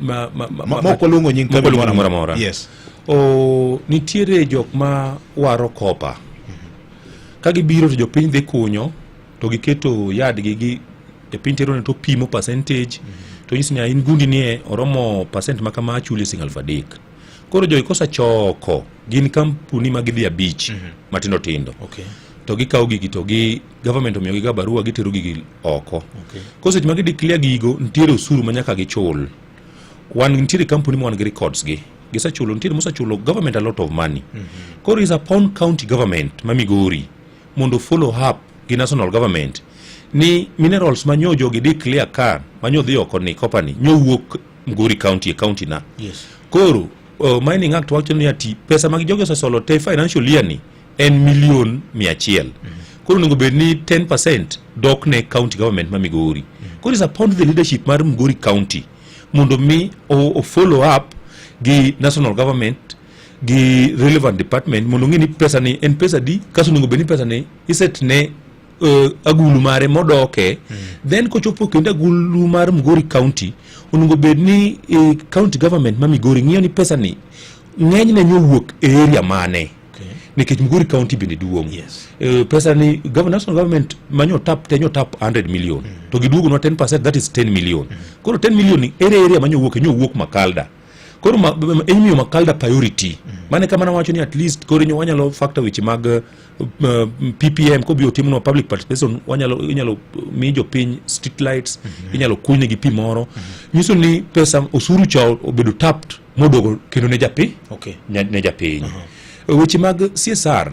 ma, ma, ma, Ma- ma ok waluongo nying kambi mokwaluongo moro moro amora. amora. Yes. o nitiere jok ma waro kopa ka gibiro to jopiny dhi kunyo to giketo yadgi gi e piny terone to pimo percentage to nyisi ni "Ah, in gundi nie oromo percent ma kama achuli sing alfa adek koro jogi kosachoko gin kampuni ma gidhi abich matindo tindo Okay. to gikawo gigi to gi government omiyogi ga barua gitero gigi oko okay. ko seche ma gideclare gigo nitiere osuru ma nyaka gichul wan nitiere kampuni ma wan gi records gi gisechulo nitiere mosechulo government a lot of money mm -hmm. koro is upon county government ma migori mondo follow up gi national government ni minerals ma nyo jogi declare ka ma nyo dhi oko ni company nyo wuok mgori county e county na yes. koro uh, mining act wacho ni ati pesa mag jogi osesolo te financial year ni en million mia achiel koro onego bed ni 10 percent dok ne county government ma migori koro is upon the leadership mar migori county mondo mi o, o follow up gi national government gi relevant department mondo ng'e ni pesa ni en pesa di kaso onego bed ni pesa ni iset ne uh, agulu mare modoke then kochopo kendo agulu mar migori county onego bed ni eh, county government ma migori ng'iyo ni pesa ni ng'enyne nyowuok e area mane nikech migori county bende duong yes. uh, pesa ni national government manyo tap tenyo tap 100 million mm. to giduogonwa 10 percent that is 10 million mm. koro 10 million ni ere area manyo wuok enyo wuok makalda koro ma, enyo makalda priority mm. mane kamana wacho ni at least koro enyo wanyalo factor weche mag uh, uh ppm kobiro timno public participation wanyalo inyalo mi jopiny street lights mm -hmm. inyalo kunyne gi pi moro mm -hmm. nyiso ni pesa osuru cha obedo tapped moduogo kendo ne japi okay. ne, ne japiny uh -huh. weche mag CSR